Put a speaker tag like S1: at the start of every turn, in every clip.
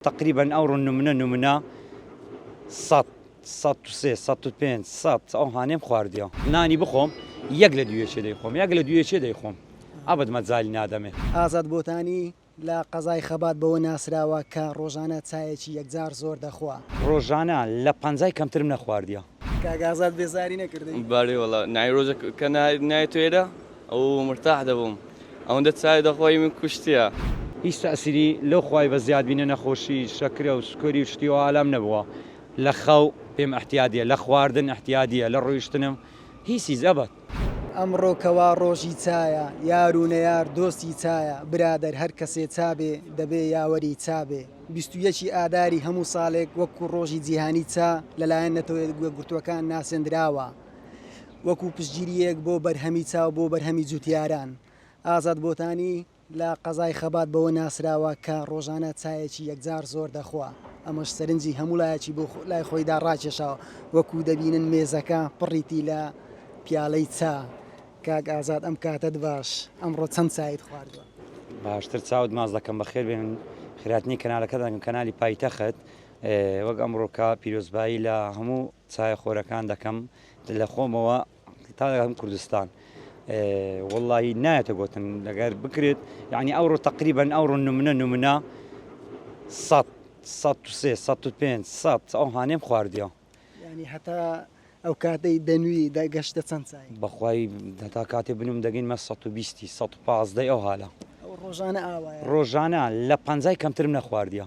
S1: تەقریبەن ئەو ڕۆ نمنە نمنە سەد سەد و سێ سەد و پێنج سەد ئەو هانێم خواردیەوە نانی بخۆم یەک لە دوێچێ دەیخۆم یەک لە دوێچێ دەیخۆم ئەبد مەجالی نادەمێ. ئازاد بۆتانی،
S2: لە قەزای خەبات بەوە ناسراوە کە ڕۆژانە چایەکی یەکجار زۆر دەخوا. ڕۆژانە لە
S1: پەنجای کەمترم نەخواردیە. کاک ئازاد
S2: بێزاری نەکردی؟ بەلی وەڵا نای
S3: ڕۆژەک کە نای نایەتۆ ئێرە. ئەو مرتاح دەبووم ئەوەندە چای دەخۆی من کوشتیە. هیچ تەئسیری
S1: لەو خوای بە زیاد بینە نەخۆشی شەکرە و سوکەری و شتی وا لام نەبووە لە خەو پێم احتیادیە لە خواردن احتیادیە لە ڕۆیشتنم هیچ هیچ ئەبەد. ئەمڕۆ کە
S2: وا ڕۆژی چایە یار و نەیار دۆستی چایە برادەر هەر کەسێ چا بێ دەبێ یاوەری چا بێ بیست و یەکی ئاداری هەموو ساڵێک وەکوو ڕۆژی جیهانی چا لەلایەن نەتەوە یەکگرتووەکان ناسێندراوە. وەکو پشتگیرییەک بۆ بەرهەمی چاو بۆ بەرهەمی جوتیاران. ئازاد بۆتانی لە قەزای خەبات بەوە ناسراوە کە ڕۆژانە چایەکی یەکجار زۆر دەخوا، ئەمەش سەرنجی هەموو لایەکی بۆ لای خۆیدا ڕاکێشاوە، وەکو دەبینن مێزەکە پڕیتی لە پیالەی چا. کاک ئازاد ئەم کاتەت باش، ئەمڕۆ چەند چایت خواردووە؟ باشتر چاوت
S1: ماچ دەکەم، بەخێربێن خێراتنی کەنالەکەتان کەنالی پایتەخت وەک ئەمڕۆکە پیرۆزبایی لە هەموو چایە خۆرەکان دەکەم لەخۆمەوە تا دەگەم کوردستان واللهی نایەتە گوتن لەگەر بکرێت یعنی ئەوڕۆ تقریبن ئەوڕۆ نمونە نمونە سە سە سێ سە پێنج سە ئەو هاانێم خواردیە ینی هەتا
S2: ئەو کاتەی دەنوی دەگەشتە چەند سای بەخوای هەتا
S1: کاتێ بنوم دەگەینمە 120 115 ئەو هاالە ڕۆژانە
S2: ئاوا ڕۆژانە لە
S1: پەنجای کەمترم نەخواردیە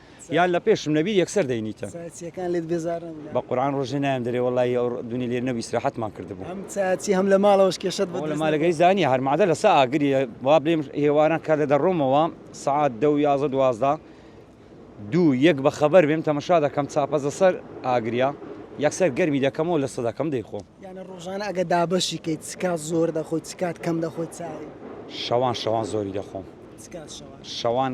S1: یان لە پێشم نەبی یەکسەر دەینیتە چیەکان لێت بێزار
S2: نەبوو بە قورآن ڕۆژێ نایەم
S1: دەرێ وەڵی ئەو دونی لێ نەبی سراحەتمان کردبوو ئەم چاچی هەم لە
S2: ماڵەوەش کێشت بۆ لە مالەکەی زانی هەرمادە
S1: لە سا ئاگری وا بێم هێواران کار لە دەڕۆمەوە سعات دە و یازە دوازدا دوو یەک بە خەبەر بێم تەمەشا دەکەم چاپەزە سەر ئاگریا یەکسەر گەرمی دەکەمەوە لە سەدەکەم دەیخۆ یانە ڕۆژانە ئەگە
S2: دابەشی کەیت چکات زۆر دەخۆی چکات کەم دەخۆی چاوی شەوان شەوان
S1: زۆری دەخۆم
S2: شەوان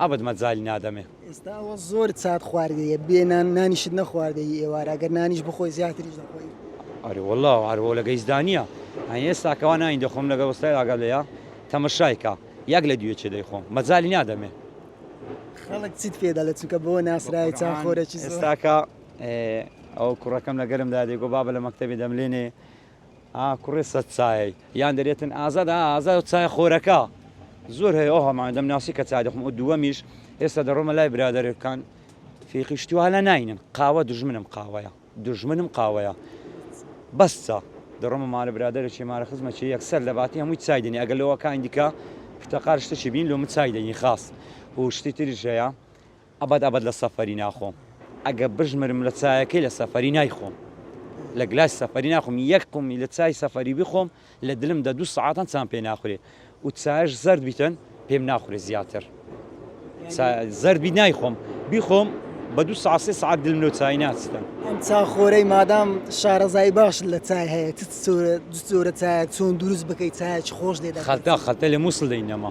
S1: ئەبد مەجالی نادەمێ. ئێستا ئەوە زۆر
S2: چات خواردەیە بێ نان نانیشت نەخواردەی ئێوارە ئەگەر نانیش بخۆی زیاتریش دەخۆی. ئەرێ وەڵا
S1: عەرەبە لە گەیسدا نییە ئەی ئێستا کەوا نانی دەخۆم لەگەڵ وەستای ئاگات لێیە تەمەشای کە یەک لە دوێ چێ دەیخۆم مەجالی نادەمێ.
S2: خەڵک چیت پێ دەڵێ چونکە بەوە ناسراوی چا خۆرەکی زۆر. ئێستاکە
S1: ئەوە کوڕەکەم لەگەرمدا دەیگۆ بابە لە مەکتەبێ دەملێنێ ئا کوڕێ سەت چایەی یان دەرێتن ئازاد ئا ئازا چای خۆرەکە زۆر هەیە ئەو هەمان دەمناسی کە چای دەخم و دووەمیش ئێستا دەڕۆمە لای برادەرەکان فێقی شتیوالە ناینن قاوە دژمنم قاوەیە دژمنم قاوەیە بەسە دەڕۆمە مالە برادەرێکی مارە خزمە چی یەکسەر لە باتی هەمووی چای دەنی ئەگەر لەوەکان دیکە پرتەقال شتەکی بین لۆ من چای دەنی خاص و شتی تریش هەیە ئەبەد ئەبەد لە سەفەری ناخۆم ئەگەر بژمرم لە چایەکەی لە سەفەری نایخۆم لە گلاسی سەفەری ناخۆم یەک قومی لە چای سەفەری بخۆم لە دلم دە دوو سەعاتان چام پێ ناخورێ و چایش زەرد بیتن پێم ناخورێ زیاتر زەرد بی نایخۆم بیخۆم بە دوو سا سێ سعات دلم لەو چای ناچتن ئەم چاخۆرەی
S2: مادام شارەزایی باش لە چای هەیە چ زۆرە چایە چۆن دروست بکەیت چایەکی خۆش لێ خەلتا خەلتە لە مووسڵ
S1: دەینەما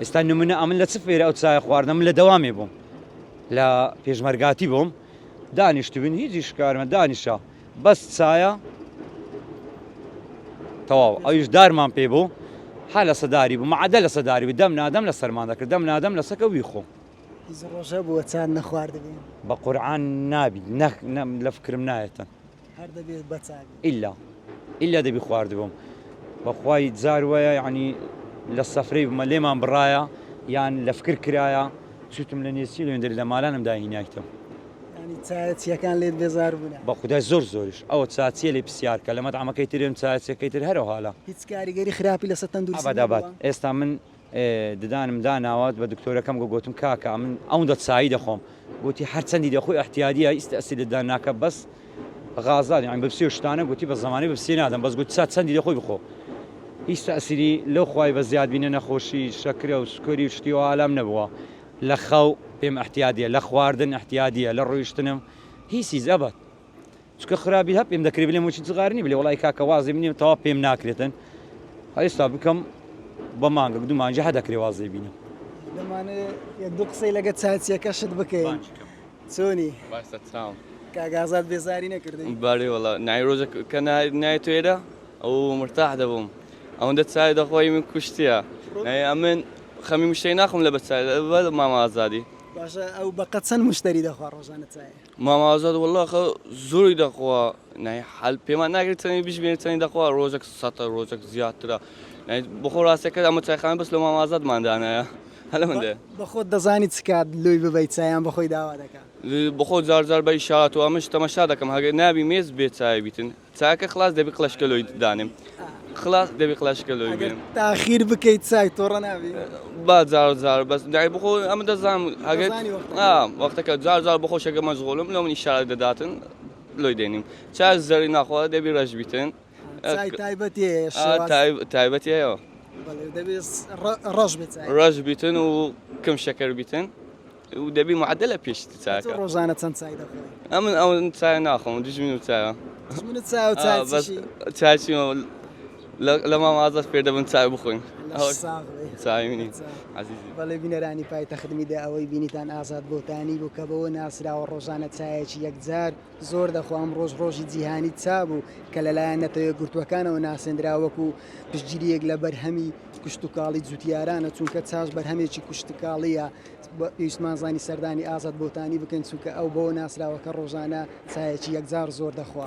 S1: ئێستا نمونە ئەمن لە چ فێرە ئەو چایە خواردنە من لە دەوامێ بووم لە پێشمەرگاتی بووم دانیشتبوون هیچی شکارمە دانیشە بەس چایە تەواو ئەویش دارمان پێ بوو ها لە سەداری بوو معدە لە سەداری بوو دەم نادەم لە سەرمان دەکرد دەم نادەم لە سەکە وی خۆم ڕۆژە
S2: بووە چاند نەخواردبوو بە قورآان
S1: نابیت نەخ لە فکرم
S2: نایەتە
S1: هەر
S2: دەبێ بە چاک
S1: بێ. ئیلا
S2: ئیلا دەبی
S1: خواردبم بەخوای جار وایە یانی لە سەفرەی بمە لێمان بڕایە یان لە فکر کرایە چوتم لە نێچیر وێندر لە مالانم داهینایتم. یانی
S2: چایە چیەکان لێت بێزار بونە. بە خودای زۆر زۆریش
S1: ئەوە چا چیە لێ پسیار کە لە مەتعەمەکەی ترێم چایە چیەکەی تر هەرەوها لە. هیچ کاریگەری خراپی
S2: لەسە تەندروستی نەبوە؟ ئەبەد ئەبەد ئێستا من
S1: ددانم داناوە بە دکتۆرەکەم گۆ گۆتم کاکە ئەمن ئەوندە چایی دەخۆم گۆتی هەر چەندی دەخۆی ئەحتیادیە ئیست ئەسی ددان ناکە بەس غازات یان بەپسیۆ شتانە گوتی بە زمانی بەپسی نادەم بەس گوت سا چەندی دەخۆی بخۆ هیچ تەسیری لەو خوای بە زیاد بینە نەخۆشی شەکرە و سکۆری و شتی و ئالام نەبووە لە خەو پێم ئەحتیادیە لە خواردن ئەحتیادیە لە ڕۆیشتنم هیسیز ئەبەت چکە خرابی هە پێم دەکری بلێ مچی جغارنی بلێ وڵی کاکە وازی منی تەوا پێم ناکرێتن هەستا بکەم بە مانگە دومانجی هە دەکری وازی بینی دو
S2: قسەی لەگە چاچیەکە شت بکەین چۆنی
S3: کاگازات بێزاری
S2: نەکردین بارێ وڵا نایرۆژە
S3: کە نای توێرە ئەو مرتاح دەبووم ئەوەندە چای دەخۆی من کوشتە ئەمن خەمی مشتەی ناخم لە بەچای مامە ئازادی باشە ئەو بەقە
S2: چەند مشتری دەخوا ڕۆژانە چای مامە ئازاد وەللە
S3: ئەخە زۆری دەخوا نای حەل پێمان ناگرێت چەنی بژمێر چەنی دەخوا ڕۆژەک سەتە ڕۆژەک زیاترە بخۆ ڕاستەکە ئەمە چایخانە بەس لە مامە ئازادمان دانایە هەلە من دێ بەخۆت دەزانی چ
S2: کات لۆی ببەی چایان بەخۆی داوا دەکا. بەخۆ جار جار
S3: بە ئیشارەتەوە ئەمنش تەمەشا دەکەم هەگە نابی مێز بێ چایە بیتن چاکە خڵاس دەبی قلەشکەلۆی دانێم خڵاس دەبی قلەشکەلۆی بێم تاخیر بکەیت
S2: چای تۆڕە نابی با جار
S3: جار بەس دای بخۆ ئەمە دەزانم ئەگەر وەختەکە جار جار بخۆ شەکە مەشغۆلم لە منی شار دەداتن لۆی دێنیم چا زەری ناخوا دەبی ڕەش بیتن تایبەتی هەیە ڕەش ڕەش بیتن و کەم شەکەر بیتن و دەبی معدلە پێش تۆ چاکە. ڕۆژانە چەند چای
S2: دەخۆی؟ ئەمن ئەو چای
S3: ناخۆم دوژمن و چایە دوژمنت چای و چای بەس چیشی؟ چای چی لە مام ئازاد فێر دەبن چای بخۆین لەش ساغ بێ چای منی چای. عەزیزی.
S2: بەڵێ بینەرانی پایتەخت میدیا ئەوەی بینیتان ئازاد بۆتانی بوو کە بەوە ناسراوە ڕۆژانە چایەکی یەکجار زۆر دەخوا ئەمڕۆش ڕۆژی جیهانی چا بوو کە لەلایەن نەتەوەیەکگرتووەکانەوە ناسێندرا وەکو پشتگیرییەک لە بەرهەمی کشتوکاڵی جوتیارانە چونکە چاش بەرهەمێکی کوشتکاڵییە پێویستمان زانی سەردانی ئازاد بۆتانی بکەین چونکە ئەو بەوە ناسراوە کە ڕۆژانە چایەکی یەکجار زۆر دەخوا.